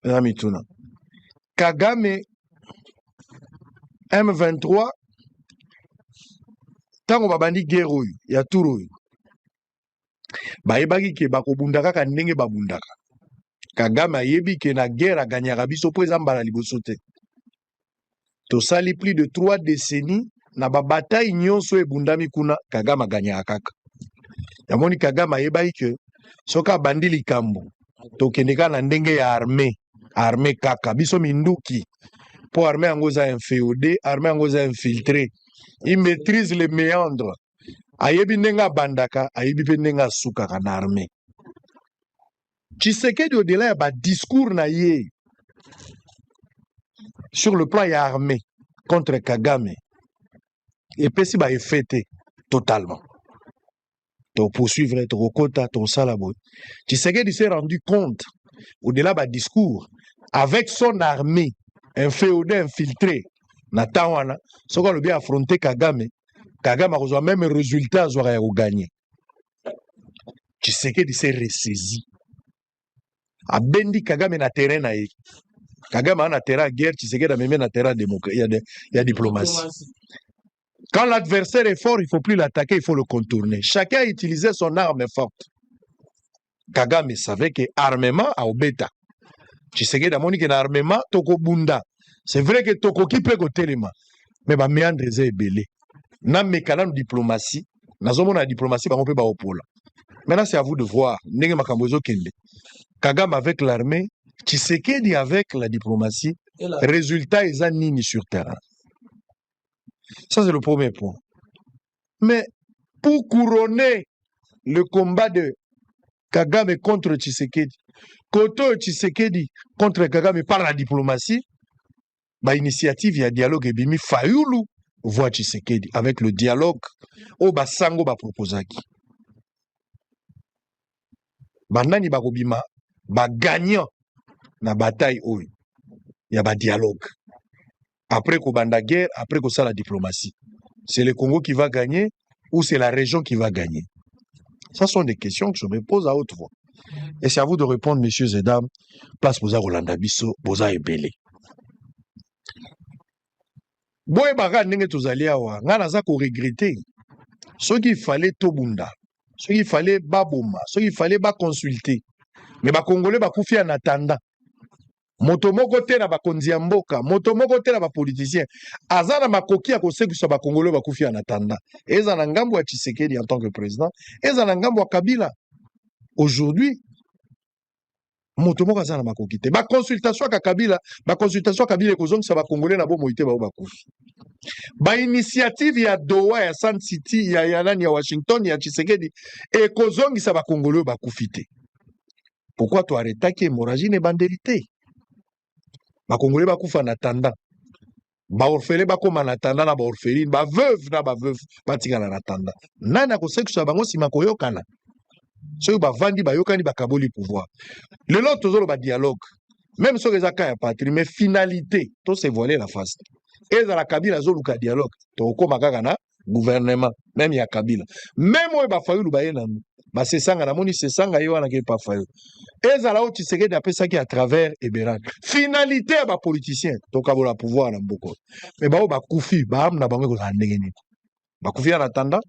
na mituna kagame m23 ntango babandi guerre oyo ya tour oyo bayebaki ke bakobunda kaka ndenge babundaka kagame ayebi ke na guerre aganyaka biso mpo eza mbala liboso te tosali plus de trois decennies na ba bataille nyonso oyo ebundami kuna kagame aganyaka kaka yamoni kagame ayebaki ke soki abandi likambo tokende kaka na ndenge ya armée armée kaka biso minduki mpo armée yango eza infeode armée yango eza infiltre il maîtrise le méandre ayebi ndenge abandaka ayebi mpe ndenge asukaka na armée Tshisekedi au delà ya ba discours na ye sur le plan ya armée contre Kagame epesi ba effet te totalement toposuivre tokokota tokosala boye Tshisekedi s'est rendu compte au delà ba discours avec son armée un féodé infiltré na temps wana soki alobi affronter Kagame Kagame akozwa meme résultat azwaka ya koganye tshisekedi se ressaisi abendi kagame na terrain na ye kagame aa na terrain ya guerre tshisekedi amemi na terrain ya, de, ya diplomatie quand l'adversaire est fort il faut plus l'attaquer il faut le contourner chacun a utilisé son arme forte kagame savait que armement aobeta tshisekedi amoni ke na armement tokobunda c'est vrai que tokoki mpe kotelema me bameandre eza ebele nameka nanu diplomatie nazomona ya diplomatie bango mpe baopola maintenant c'est à vous de voir ndenge makambo ezokende kagame avec l'armée tshisekedi avec la diplomatie résultat eza nini sur terrain ça c'est le premier point Mais pour couronner le combat de Kagame contre Tshisekedi, kote oyo Tshisekedi contre Kagame par la diplomatie, ba initiative ya dialogue ebimi Fayulu voit Tshisekedi avec le dialogue oyo basango baproposaki. Banani bakobima ba gagnant na bataille oyo ya ba dialogue. après kobanda guerre après kosala diplomatie c'est le congo qui va gagner ou c'est la région qui va gagner ça sont des questions que je me pose à haute voix et c'est à vous de répondre messieurs et dames place boza kolanda biso boza ebele boyebaka ndenge tozali awa ngai naza koregrete soki ifale tobunda soki ifale baboma soki ifale baconsulte me bakongole bakufi ya natanda moto moko te na bakonzi ya mboka moto moko te na bapoliticien aza na makoki ya kosekwisa bakongole bakufi ya natanda eza na ngambo ya tshisekedi en tant que président eza na ngambo ya kabila aujourd'hui moto moko aza na makoki te baconsultation yaka kabila baconsultation ya kabila ekozongisa bakongole na bomoi te bao bakufi bainitiative ya doha ya sun city ya, ya nani ya washington ya tshisekedi ekozongisa bakongole oyo bakufi te pourquoi to arretaki hemorragie na ebandeli te bakongole bakufa na tanda baorfele bakóma na tanda na baorfeline baveuve na baveuve batikala na tanda nani akosekisa bango nsima koyokana soki bavandi bayokani bakaboli pouvoir lelo tozoloba dialogue meme soki eza ka ya patrie mais finalité to se voiler la face ezala kabila azoluka dialogue tokokóma kaka na gouvernement meme ya kabila meme oyo bafayulu baye nanu basesanga namoni sesanga ye wana ke pafayo ezala oyo tshisekedi apesaki à travers eberak finalité ya bapoliticien tokabola pouvoir na mboko me baoyo bakufi baame na bango ekozala ndenge nini bakufi ya na tanda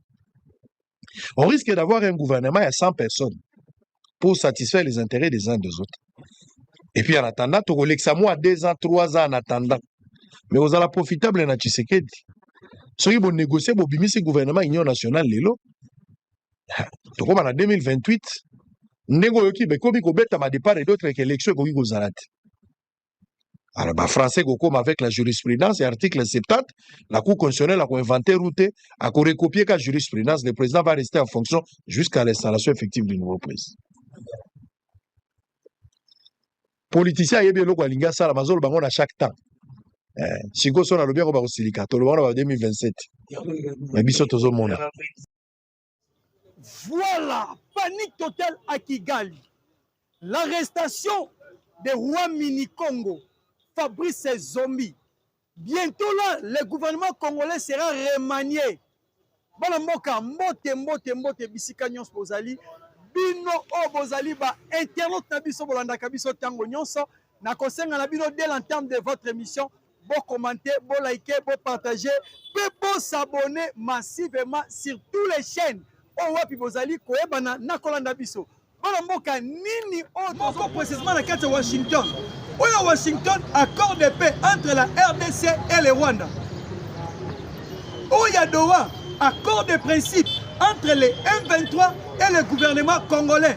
On risque d'avoir un gouvernement à 100 personnes pour satisfaire les intérêts des uns des autres. Et puis en attendant, tu as moi 2 ans, 3 ans en attendant. Mais vous allez profitable na Tshisekedi. Soki bo négocier bo bimisi gouvernement Union nationale lelo. Tokoma na 2028. Ndenge oyoki bekomi kobeta ma départ et d'autres élections ekoki kozala te. alors ba français kokoma avec la jurisprudence ya article 70 la cour constitutionnelle akoinvente route akorecopie ka jurisprudence le président va rester en fonction jusqu'à l'installation effective du nouveau président politicien ayebi eloko alingi asala bazoloba yango na chaque temps eh, sikoyo so nalobi yango bakosilika toloba yango na ba 2027 me biso tozomona Voilà, panique totale à Kigali. L'arrestation de Roi Minikongo, Fabrice Zombie. Bientôt là, le gouvernement congolais sera remanié. Bana mboka, mbote, mbote, mbote, bisika nyonso bozali. Bino oyo bozali ba internautes na biso bolandaka biso tango nyonso. Nakosenga na bino dès l'entame de votre émission bo commenter, bo liker, bo partager, pe bo s'abonner massivement sur tous les chaînes. Oh wapi bozali koyebana na kolanda biso. Bana mboka nini oyo tozo précisément na kati ya Washington. Oyo oh, Washington accord de paix entre la RDC et le Rwanda. Oyo oh, Doha accord de principe entre les M23 et le gouvernement congolais.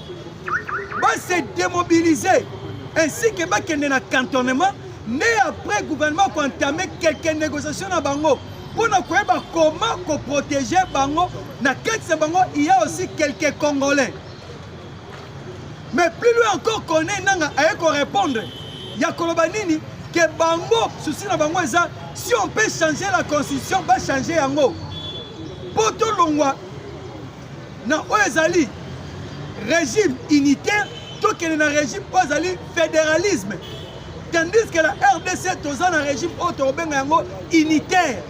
ba se démobiliser ainsi que bakende na cantonnement nde après gouvernement koentame quelque négociation na bango mpo na koyeba comment koprotege bango na kati na bango il y a aussi quelques congolais mais plus loin encore kone nanga aye korépondre ya koloba nini ke bango susi na bango eza si on peut changer la constitution bachange yango mpo tolongwa na oyo ezali régime unitaire tokende na régime oyo ezali fédéralisme tandis que la rdc toza na régime oyo tokobenga yango unitaire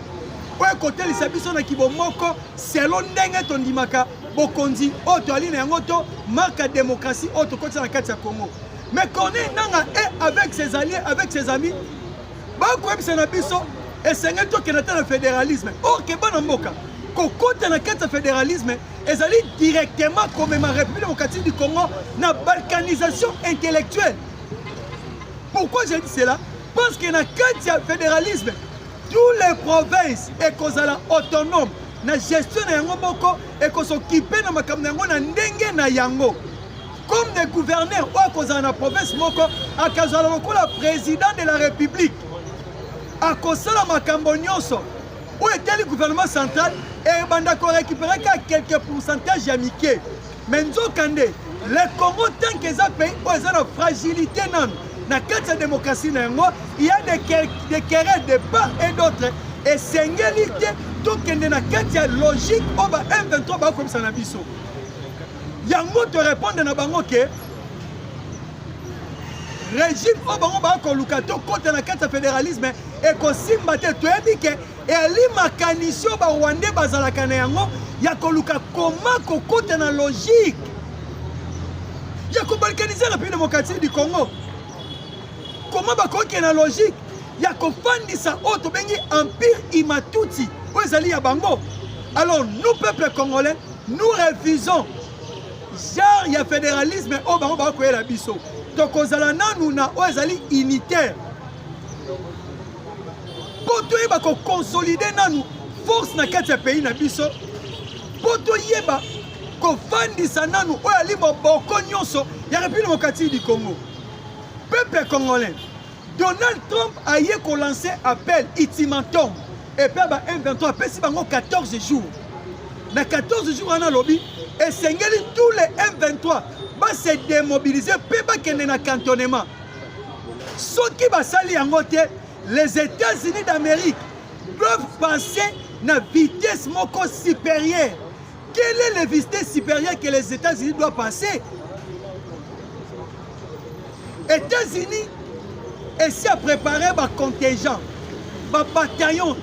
oyo ekotelisa biso na kibomoko selo ndenge tondimaka bokonzi oyo toyali na yango to marque ya démocratie oyo tokotisa na kati ya congo mais corneille nanga e avec ses alliés avec ses amis bakoyebisa na biso esengeli tokende ata na fédéralisme or ke bana mboka kokota na kati ya fédéralisme ezali directement komema république démocratique du congo na balkanisation intellectuelle pourquoi j'ai dit cela parce que na kati ya fédéralisme tous les provinces ekozala autonome na gestion na yango moko ekosokipe na makambo na yango na ndenge na yango comme de gouverneur oyo akozala na province moko akazala lokola président de la république akosala makambo nyonso oyo etali gouvernement central ebanda korécupere kaka quelque pourcentage ya mike me nzokande le congo tanke eza pays oyo eza na fragilité nano na kati ya démocratie na yango ya de querelle de part et d'autre esengeli te tokende na kati ya logique oyo ba m23 bakokomisa na biso yango to répondre na bango ke régime oyo bango bakoluka tokota na kati ya fédéralisme ekosimba te toyebi ke eli makanisi oyo barwandais bazalaka na yango ya koluka koma kokota na logique ya kobalkanize na pays démocratique du congo koma bakokende na logique ya kofandisa oyo tobengi empire imatuti oyo ezali ya bango alors nous peuple congolais nous refusons genre ya fédéralisme oyo bango bakoyela biso tokozala nanu na oyo ezali unitaire mpo toyeba koconsolide nanu force na kati ya pays na biso mpo toyeba kofandisa nanu oyo ali moboko nyonso ya république démocratique du congo peuple congolais Donald Trump aye ko lancer appel ultimatum epai ba M23 apesi bango 14 jours na 14 jours wana alobi esengeli tous les M23 base demobilize mpe bakende na cantonnement soki basali yango te les États-Unis d'Amérique doivent penser na vitesse moko supérieure Quel est le visite supérieur que les États-Unis doivent passer États-Unis esi à préparer ba contingent ba bataillon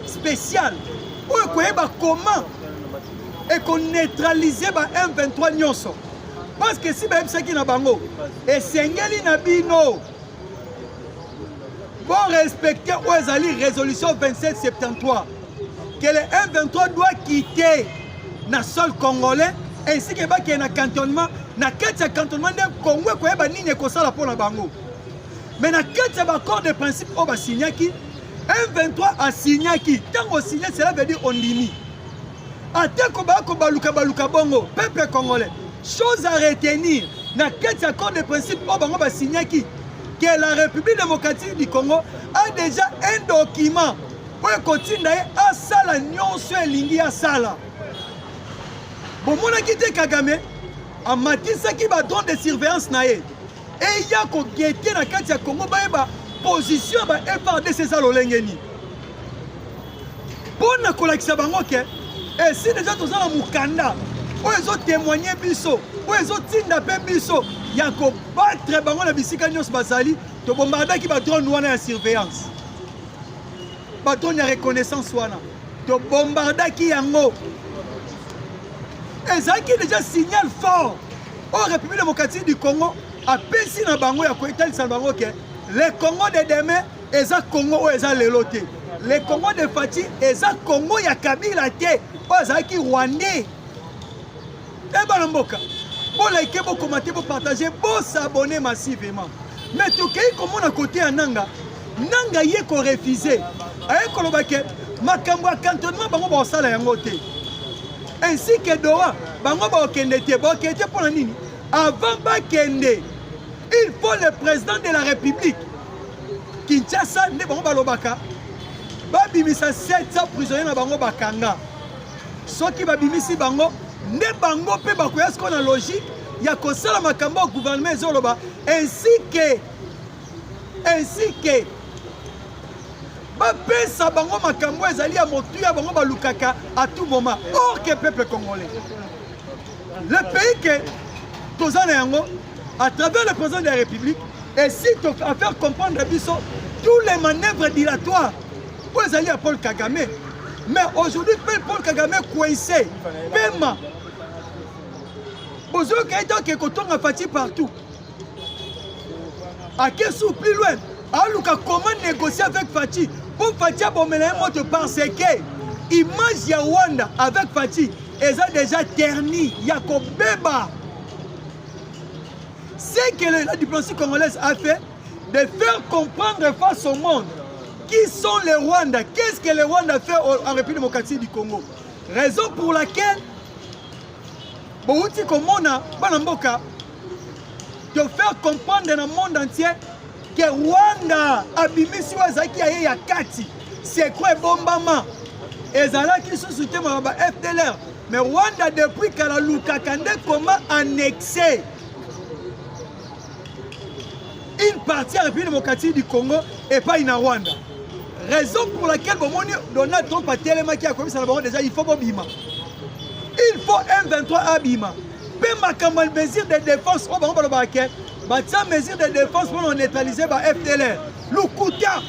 spécial oyo ekoyeba comment ekoneutralize ba M23 nyonso parce que si bayebisaki na bango esengeli na bino pour respecter oyo ezali résolution 2773 que le M23 doit quitter na sol congolais ainsi que bakende na cantonnement na kati ya cantonnement nde congo ekoyeba nini ekosala mpo na bango mais na kati ya baaccord de principe oyo basignaki M23 asignaki ntango osigne cela veut dire ondimi Atako ba ko baluka baluka bongo peuple congolais chose à retenir na kati ya accord de principe oyo bango ba signaki que la République démocratique du Congo a déjà un document oyo ekotinda ye asala nyonso elingi asala bomonaki te kagame amatisaki badrone de surveillance na ye eya kogete na kati ya congo bayeba position ya ba frdc eza lolenge nini mpo na kolakisa bango ke esi deja toza na mokanda oyo ezotemoigne biso oyo ezotinda mpe biso ya kobatre bango na bisika nyonso bazali tobombardaki badrone wana ya surveillance badrone ya reconnaissance wana tobombardaki yango ezalaki deja signal fort oyo république démocratique du congo apesi na bango ya koetalisa na bango ke le congo de demain eza congo oyo eza lelo te le congo de fati eza congo ya kabila te oyo azalaki rwandais ebana eh, mboka bolike bokomante bopartage bosabone massivement mais tokei komona kote ya nanga nanga ye korefuze aye koloba ke makambo ya cantonnement bango bakosala yango te ainsi que doha bango bakokende te bakokende te mpo na nini avant bakende il faut le président de la république kinshasa nde bango balobaka babimisa 700 prisonnier na bango bakanga soki babimisi bango nde bango mpe bakoya sikoyo na logique ya kosala makambo ya gouvernement ezoloba ainsi que ainsi que bapesa bango makambo ezali ya motuya bango balukaka à tout moment or que peuple congolais le pays que toza na yango à travers le président de la république esi à faire comprendre biso tous les manœuvres dilatoires oyo ezali ya paul kagame mais aujourd'hui mpe paul kagame coince pema bozoyoka ete oke kotonga fati partout akesi ou plus loin aluka comment négocier avec Fatih mpo Fatih abomela ye moto parce que image ya Rwanda avec Fatih eza déjà terni ya kobeba ce que la diplomatie congolaise a fait de faire comprendre face au monde qui sont les Rwandais qu'est-ce que les Rwandais fait en République démocratique du Congo raison pour laquelle bowuti komona bana mboka de faire comprendre na monde entier que Rwanda abimisi oyo azalaki ya ye ya kati sekro ebombama ezalaki lisusu te maloba fdlr mais Rwanda depuis kala lukaka nde koma annexe une partie ya République démocratique du Congo epai na Rwanda raison pour laquelle bomoni Donald Trump atelemaki akomisa na bango déjà il faut bobima il faut M23 abima mpe makambo ya mesure de défense oyo bango balobaka ke batia mesure de défense mpona neutralize ba fdlr lokuta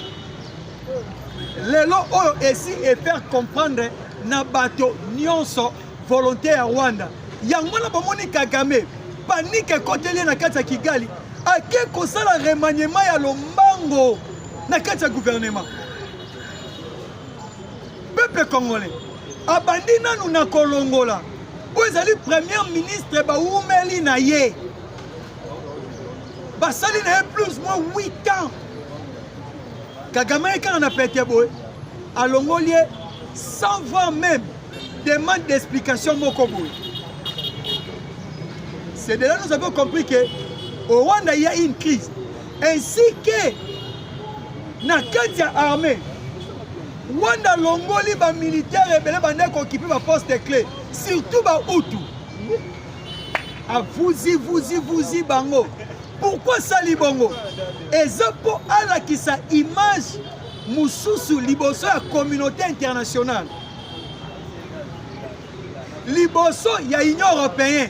lelo oyo esi efaire comprendre na bato nyonso volonté ya rwanda yango wana bomoni kagame panike ekoteli ye na kati ya kigali ake kosala remaniement ya lombango na kati ya gouvernement peuple congolais abandi nanu na kolongola oyo ezali premier ministre bawumeli na ye basali na ye plus moins 8 ans kagame ye kaka na pete boye alongoli ye sans voir même demande d'explication moko boye c'est de là nous avons compris que au rwanda il y a une crise ainsi que na kati ya armée wanda alongoli bamilitaire ebele bandaki kokipe baposte clé surtout bautu avuzi vuzi vuzi bango pourkui asali bongo eza mpo alakisa image mosusu liboso ya communauté internationale liboso ya union européenne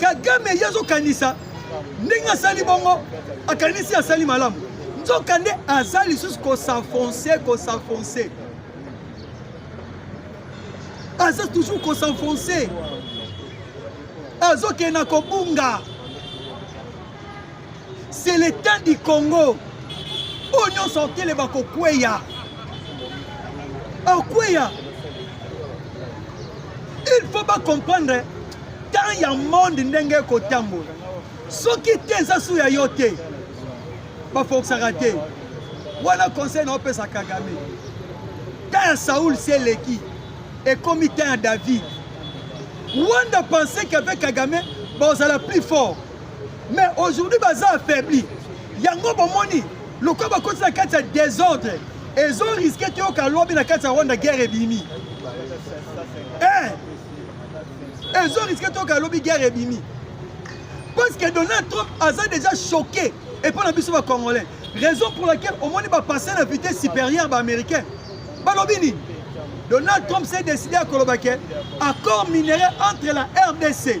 kagame ye azokanisa ndenge asali bongo akanisi asali malamu nzoka nde aza lisusu kosenfonce kosenfonce aza toujours kosenfonce azokende na kobunga c'est l'état du congo oyo nyonso akele bakokweya bakweya il faut bacomprendre temps ya monde ndenge ekotambola soki te eza su ya yo te bafokisaka te wana conseil na opesa kagame temps ya saul si eleki ekomi temps ya david wanda pensait qu'avec kagame bozala plus fort mais aujourd'hui baza affaibli yango bomoni lokola bakoti na kati ya désordre ezo riske toyoka lobi na kati ya rwanda guerre ebimi eh! ezo riske toyoka lobi guerre ebimi parce que donald trump aza déjà choqué epai na biso bacongolais raison pour laquelle omoni bapasse na vitesse supérieure baaméricain balobi nini donald trump s'est décidé à Kolobake, accord minerais entre la rdc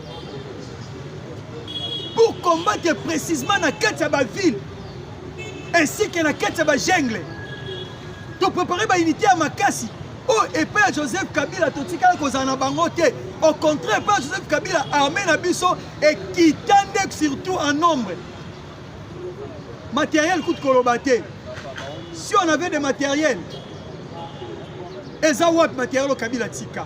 pour combattre précisément na kati ya baville ainsi que na kati ya bajengle toprépare baunité ya makasi oyo oh, epai ya joseph kabila totikala kozala na bango te au contraire epai ya joseph kabila armée na biso ekita nde surtout en nombre matériel kutu koloba te si on avait des matériels eza wapi matériel oyo kabila tika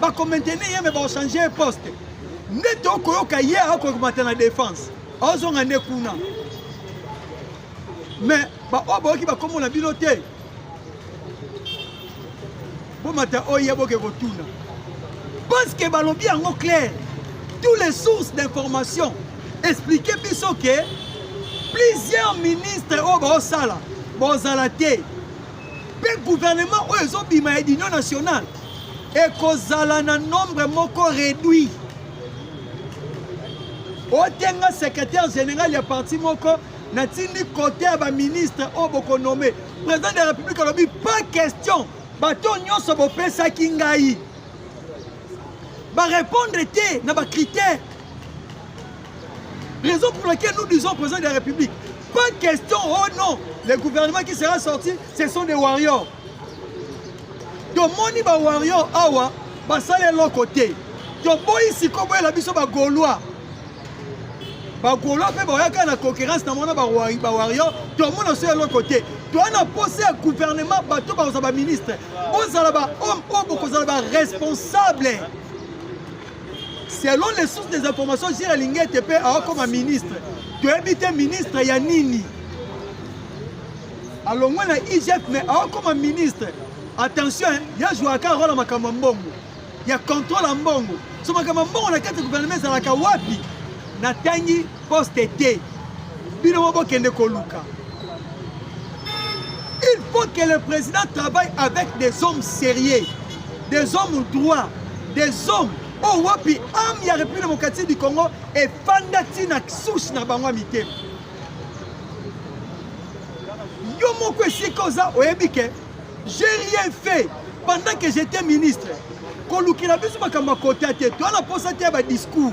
bako maintenir ye me bao changer ye poste nde tokoyoka ye akoki komata na défense aozonga nde kuna me baoyo bayoki bakombo na bino te bomata oyo ye boke kotuna parce que balobi yango claire tous les sources d'information explike biso ke plusieurs ministres oyo baosala bozala te mpe gouvernement oyo ezobima ya union nationale ekozala na nombre moko réduit otenga secrétaire général ya parti moko natindi kote ya baministre oyo bokonome président de la république alobi pas question bato nyonso bopesaki ngai barépondre te na bacritère Raison pour laquelle nous disons au président de la République, pas question, oh non, le gouvernement qui sera sorti, ce sont des warriors. tomoni bawarrior awa basali eloko te toboyi sikoyo boyela biso bagaulois bagaulois mpe baoyaka na concurrence na mona bawarrior tomona so eloko te toya na posa ya gouvernement bato bakozala baministre bozala bahomme oyo bokozala baresponsable selon les sources des informations jile alingi ete mpe aokoma ministre toyebi te ministre ya nini alongwe na igf mais aokoma ministre attention ye azwaka role ya makambo ya mbongo ya contrôle ya mbongo so makambo ya mbongo na kati ya gouvernement ezalaka wapi natangi poste te bino mo bokende koluka il faut que le président travaille avec des hommes sérieux des hommes droits des hommes oyo oh, wapi ame ya république démocratique du congo efanda ntina source na bango ya mitema yo moko esika oza oyebi ke j'ai rien fait pendant que j'étais ministre kolukela biso makambo ya kota te toa na mposa te ya badiscours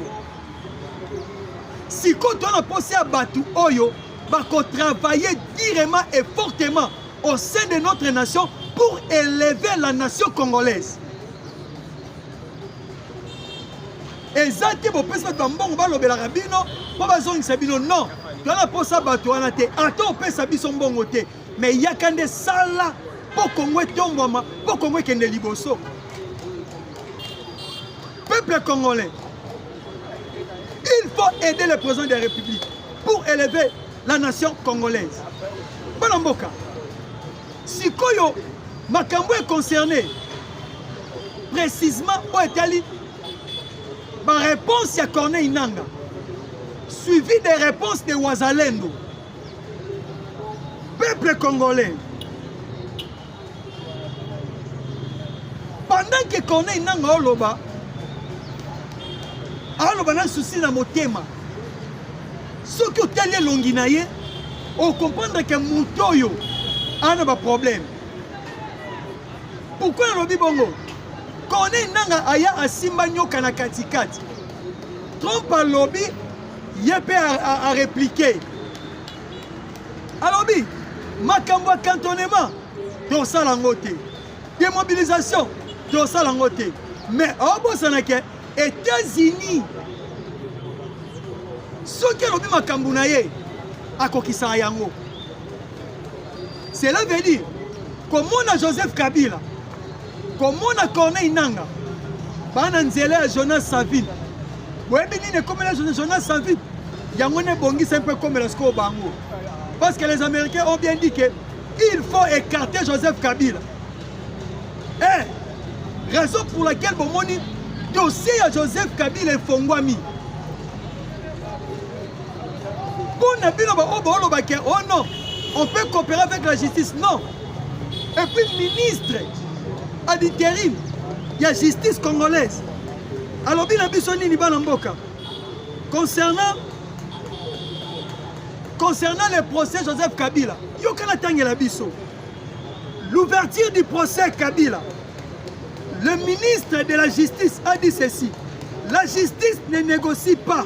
sikoyo toa na mposa ya bato oyo bakotravaille direment et fortement au sein de notre nation pour élever la nation congolaise eza te bopesi bato ya mbongo balobelaka bino mpo bazongisa bino non toza na mposa bato wana te ata opesa biso mbongo te me yaka nde sala mpo kongo etombwama mpo kongo ekende liboso peuple congolais il faut aider le président de la république pour élever la nation congolaise bana mboka sikoyo makambo econcerne précisement oyo etali baréponse ya corneille nanga suivi des réponses de wazalendo peuple congolais pendant que corneille nanga aoloba aoloba na susi na motema soki otali elongi na ye okomprendre ke moto oyo aa na baproblème pourkui nalobi bongo corneille nanga aya asimba nyoka na katikati trump alobi ye mpe areplike a, a alobi makambo ya cantonnement tosala yango te demobilisation tosala yango te mais obosana ke états-unis soki alobi makambo na ye akokisaka yango cela veut dire komona joseph kabila komona corneille nanga bana nzela ya jonas savine boyebi nini ekomela jonas savine yango nde ebongisa mpe ekomela sikoyo bango parce que les américains ont bien dit que il faut écarter joseph kabila eh, raison pour laquelle bomoni dossier ya joseph kabila efongwami Mpo na bino baoyo baolobaka o oh non on peut coopérer avec la justice non et puis ministre à l'intérim ya justice congolaise alobi na biso nini bana mboka concernant concernant le procès joseph kabila yoka natangela biso l'ouverture du procès kabila le ministre de la justice a dit ceci la justice ne négocie pas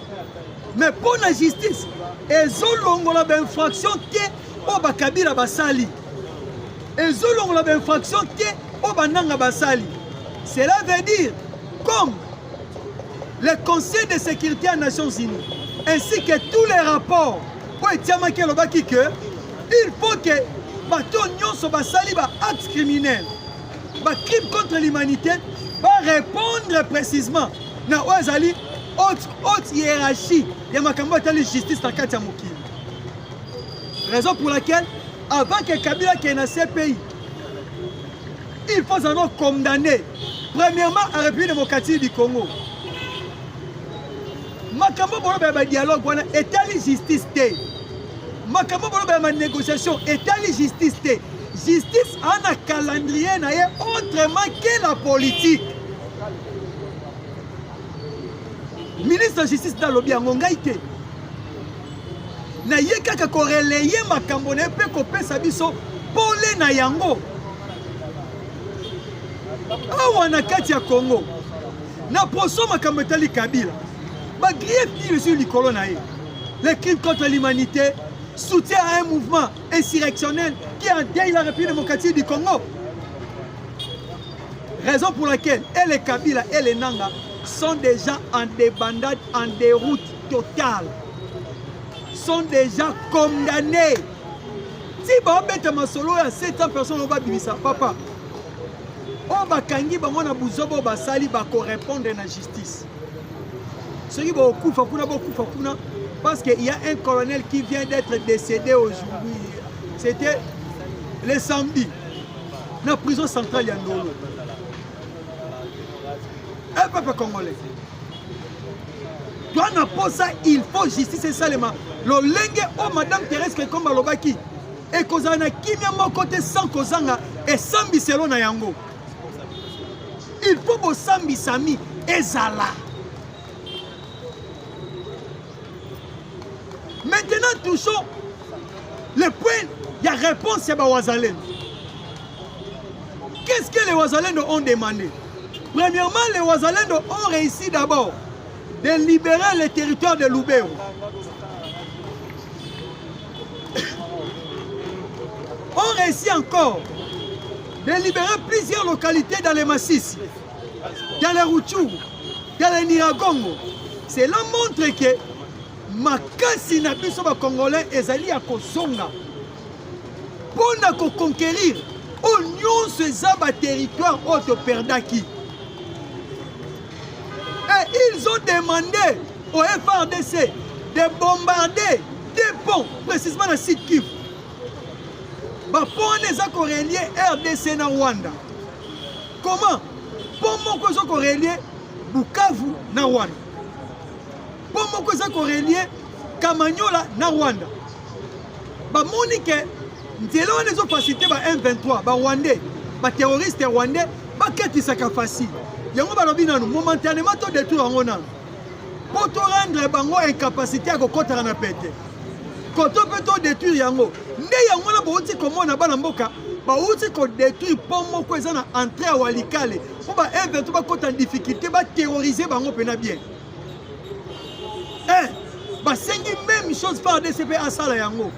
mais mpo na justice ezolongola bainfraction te oyo bakabila basali ezolongola bainfraction te oyo bananga basali cela veut dire comme le conseil de sécurité ya nations unies ainsi que tous les rapports oyo etiamaki elobaki que il faut que bato nyonso basali baacte criminel ba crime contre l'humanité ba répondre précisément na oyo ezali haute haute hiérarchie ya makambo atali justice na kati ya mokili raison pour laquelle avant que kabila akende na cpi il faut azalaka condamné premièrement à république démocratique du congo makambo boloba ya badialogue wana etali justice te makambo boloba ya manégociation etali justice te Justice ana calendrier na ye autrement que la politique. Ministre de justice nalobi yango ngai te na ye kaka koreleye makambo na ye mpe kopesa biso pole na yango awa na kati ya Congo na poso makambo etali Kabila ba grief nini ezwi likolo na ye le crime contre l'humanité soutien à un mouvement insurrectionnel qui a endeuille la République démocratique du Congo. Raison pour laquelle et les Kabila et les Nanga sont déjà en débandade, en déroute totale. Sont déjà condamnés. Si baobeta masolo ya 700 personnes oba bimisa papa oyo bakangi bango na buzoba oyo basali bakorepondre na justice soki bokufa kuna bokufa kuna parce qu'il y a un colonel qui vient d'être décédé aujourd'hui c'était le samedi na prison centrale ya ndolo e eh, peuple congolais toi na posa il faut justice esalema lolenge oyo madame thérèse kekomba alobaki ekozala na kimia moko te sans kozanga esambiselo na yango il faut bosambisami ezala maintenant touchons le point ya réponse ya bawazalendo qu'est-ce que les wazalendo ont demandé premièrement les wazalendo ont réussi d'abord de libérer le territoire de lubero ont réussi encore de libérer plusieurs localités dans les Massissi, dans les Routchou, dans les Niragongo. Cela montre que makasi na biso bacongolais ezali ya kozonga mpo na koconquérir oyo nyonso eza baterritoire oyo toperdaki et ils ont demandé au FRDC de bombarder deux ponts, précisément na Sud Kivu. Ba ponts wana eza korelie RDC na Rwanda. Comment? Pont moko eza korelie Bukavu na Rwanda. Pont moko eza korelie Kamanyola na Rwanda. Bamoni ke nzela wana ezofasilite ba M23 ba Rwandais ba terroriste rwandais bakakisaka facile yango balobi nanu momentanement to détruire yango nanu mpo to rendre bango incapacité ya kokotaka na pete koto mpe to détruire yango nde yango wana bouti komona bana mboka bauti kodétruire mpo moko eza na entrée ya walikale mpo ba evento bakota na difficulté baterrorize bango mpena bien eh, basengi même chose par dcp asala yango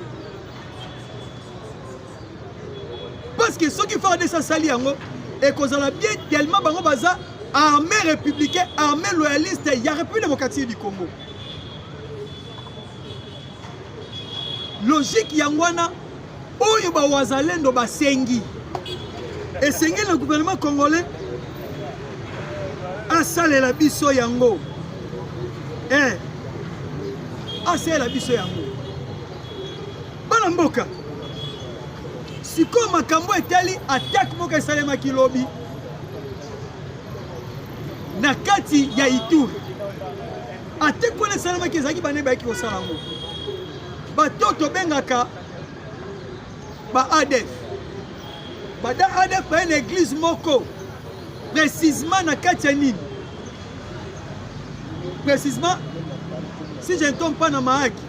parce que soki fardc asali yango ekozala bien tellement bango baza armée républicain armée loyaliste ya république démocratique du congo logique yango wana oyo bawazalendo basengi esengeli na gouvernement congolais asalela biso yango eh, asalela biso yango bana mboka sikoyo makambo etali atake moko esalemaki lobi na kati ya ituri ate mpona esalemaki ezalaki bana bayaki kosala yango bato tobengaka ba adf bada adf baye na eglize moko precisement na kati ya nini Précisément, si je ne tombe pas na Mahaki,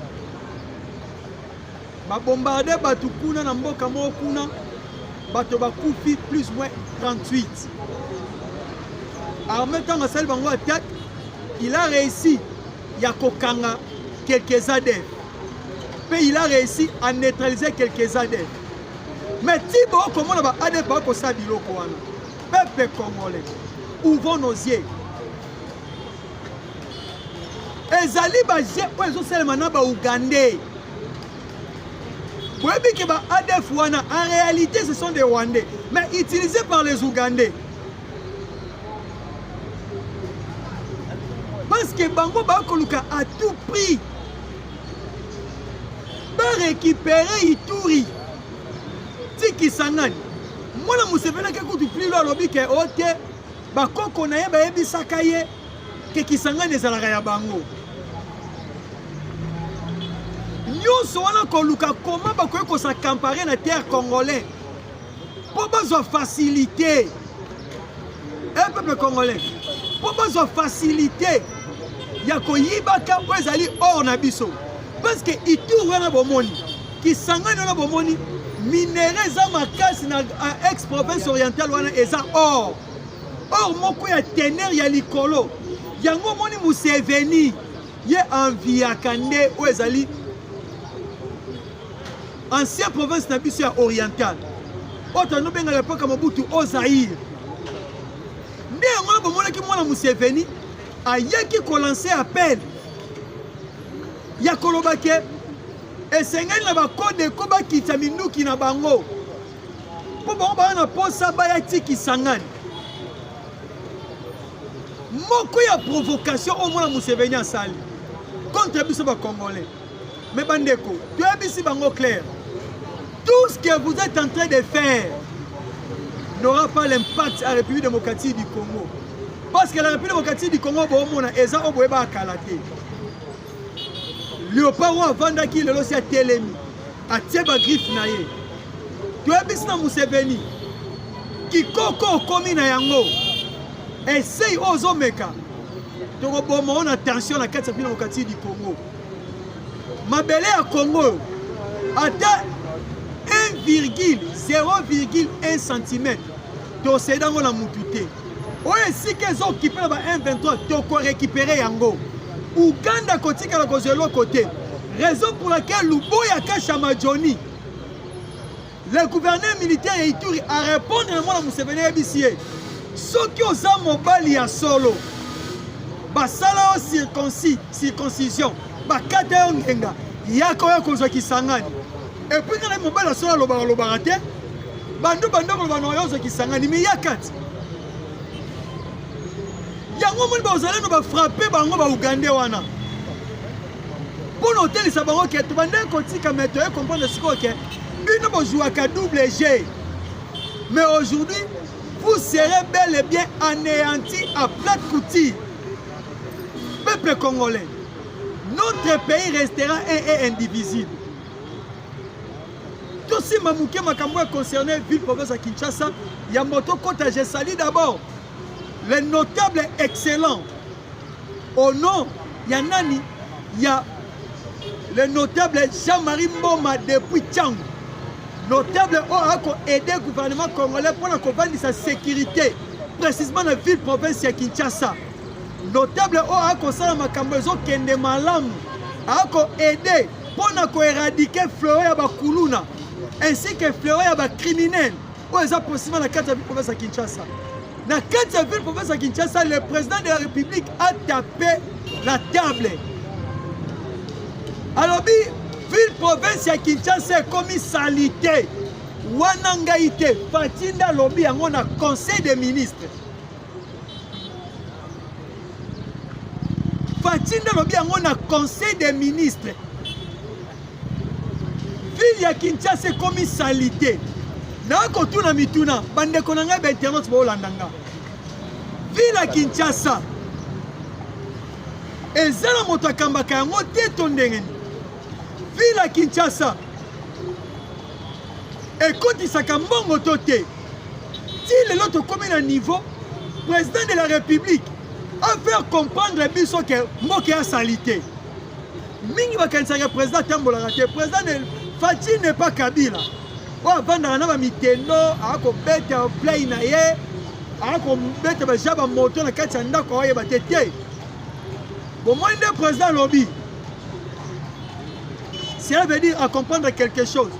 babombarde bato kuna na mboka moko kuna bato bakufi plus moins 38 arme ntango asali bango attaque il a réussi ya kokanga quelques adeptes mpe il a réussi à neutraliser quelques adeptes mais ti bokomona ba adeptes bakosala biloko wana Peuple congolais, ouvrons nos yeux. ezali baje oyo ezosalema na baougandais boyebi ke ba adf wana en réalité ce sont des rwandais mais utilisés par les ougandais parce que bango bakoluka à tout prix barécupérer ituri ti kisangani mwana museveni ake kutu plilo alobi ke o te bakoko na ye bayebisaka ye ke kisangani ezalaka ya bango nyonso wana koluka koma bakoki kosacampare na terre congolais mpo bazwa facilité e eh, peuple congolais mpo bazwa facilité ya koyibaka oyo ezali or na biso parce que itour wana bomoni Kisangani wana bomoni minere eza makasi na ex province orientale wana eza or or moko ya teneur ya likolo yango omoni museveni ye enviaka nde oyo ezali ancien province na biso ya orientale oyo tando bengaka epoka mobutu o zaire nde yango na bomonaki mwana museveni ayaki kolanse appel ya koloba ke esengeli na bakodeko bakitisa minduki na bango mpo bango baa na mposa baya ti kisangani moko ya provocation oyo mwana museveni asali contre biso bacongolais me bandeko toyebisi bango claire tout ce que vous êtes en train de faire n'aura pas l'impact à république démocratique du congo parce que la république démocratique du congo boomona eza oyo boyebaka kala te leopard oyo avandaki lelo si atelemi atie bagriffe na ye toyebisi na museveni kikoko okomi na yango esei oyo ozomeka tokoboma oyo na tension na kati ya bino mokati di congo mabele ya congo oyo ata 1,0,1 cm toseda yango na mutu te oyo esika ezo okipe na ba M23 toko récupérer yango Uganda kotikala kozwa eloko te raison pour laquelle Luboya Kashama Johnny le gouverneur militaire ya Ituri a répondre na mwana Museveni ayebisi ye soki oza mobali ya solo basala yo circoncis circoncision bakata yo ngenga yaka oya kozwa kisangani epuis kana mobali ya solo alobaka lobaka te bandu banda koloba na yo ozokisangani me ya kati yango omoni baozalendo bafrappe bango baugande wana mpo na otelisa bango ke tobande kotika me toye comprendre sikoyo ke bino bozuwaka double g mais aujourd'hui vous serez bel et bien anéanti à plate couture peuple congolais notre pays restera un et indivisible tosimba moke makambo ya concerne ville province ya kinshasa ya moto kota je sali d'abord le notable excellent au nom ya nani ya le notable jean-marie mboma depuis tiango notable oyo oh, ako aide gouvernement congolais mpo na kovandisa sécurité précisément na ville province ya kinshasa notable oyo oh, akosala makambo ezokende malamu ako aide mpo na koeradike fleo ya bakuluna ainsi que fleo ya bacriminel oyo eza posima na kati ya province ya kinshasa na kati ya ville province ya kinshasa le président de la république a tapé la table alobi ville province ya kinshasa ekomi salite wana ngai te fatinda alobi yango na conseil des ministres Fatshi nde alobi yango na conseil des ministres. Ville ya Kinshasa ekomi salite. nakotuna mituna bandeko na ngai bainternet baolanda nga ville ya kinshasa eza na moto akambaka yango te to ndenge nini ville ya kinshasa ekotisaka mbongo to te ti lelo tokomi na niveau président de la république afaire comprendre biso ke mboka ya salite mingi bakanisaka président atambolaka te président faci ne pas kabila oyo avandaka na bamitendo akobeta play na ye akobeta baja bamoto na kati ya ndako aoyeba te te bomoni nde président alobi cela veut dire acomprendre quelque chose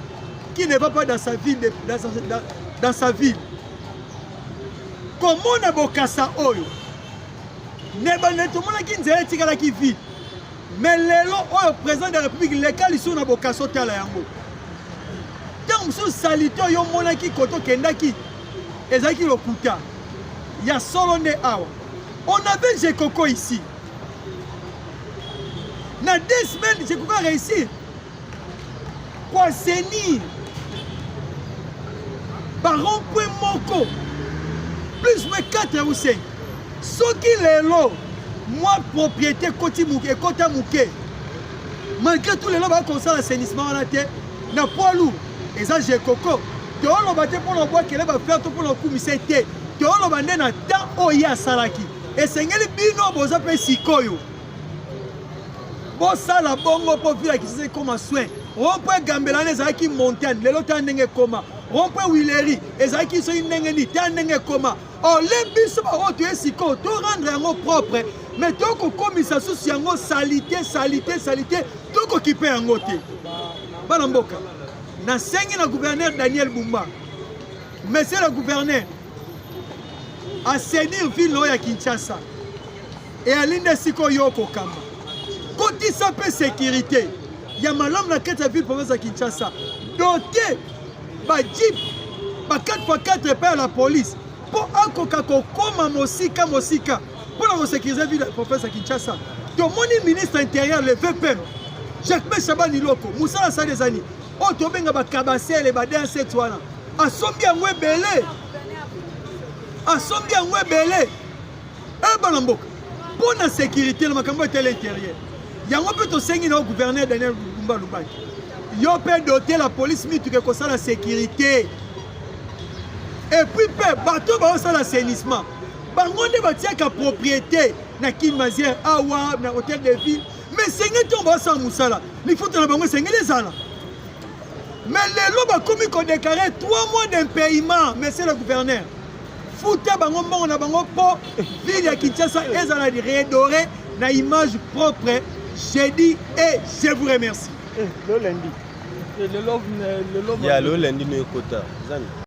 qui ne va pas dans sa ville, dans sa, dans, dans sa ville. komona bokasa oyo na ebandeli tomonaki nzela etikalaki vide me lelo oyo président de la république leka lisusu na bokasa otala yango ntango mosusu salite oyo omonaki koto okendaki ezalaki lokuta ya solo nde awa on avait jekoko ici na deux semaines jekoko a réussir ko assainir barompwe moko plus moins 4 ou 5 soki lelo mwa propriété ekoti moke ekota moke malgré tout lelo baya kosala assainissement wana te na poids lourd eza jekoko tooloba te mpo na obwakele bafleur to mpo na okumisa te tooloba nde na temps oyo ye asalaki esengeli bino boza mpe sikoyo bosala bongo mpo vila kisasa ekoma soin rompo egambela wana ezalaki montagne lelo ta ndenge ekoma rompo wileri ezalaki soki ndenge nini ta ndenge ekoma ole biso baoyo toye sikoyo to rendre yango propre me tokokomisa susu yango salite salite salite tokokipe yango te bana mboka nasengi na gouverneur daniel bumba monsieur le gouverneur asenir ville oyo ya Kinshasa eyali nde sikoyo okokamba kotisa mpe sekirite ya malamu na kati ya ville province ya Kinshasa dote bajip ba 4x4 epai ya la police mpo akoka kokoma mosika mosika mpo na kosekirize ville ya province ya Kinshasa tomoni ministre intérieur le vpm jacques shabani loko mosala asali ezani oyo tobenga bakabasele ba 2 wana asombi yango ebele asombi yango ebele e bana mboka mpo na sécurité na makambo etele intérieur yango mpe tosengi na yo gouverneur daniel lumba lubaki yo mpe dote la police mituka ekosala sécurité epuis mpe bato baosala assainissement bango nde batiaka propriété na kin maziere awa na hôtel de ville mais esengeli ntongo baosala mosala lifuta na bango esengeli ezala Mais lelo bakomi ko déclarer 3 mois d'impayement, monsieur le gouverneur. Futa bango mbongo na bango po ville ya Kinshasa ezala redorée na image propre. J'ai dit et je vous remercie. Eh, le lundi. Eh, le love, le love. Ya le lundi mais kota. Zani.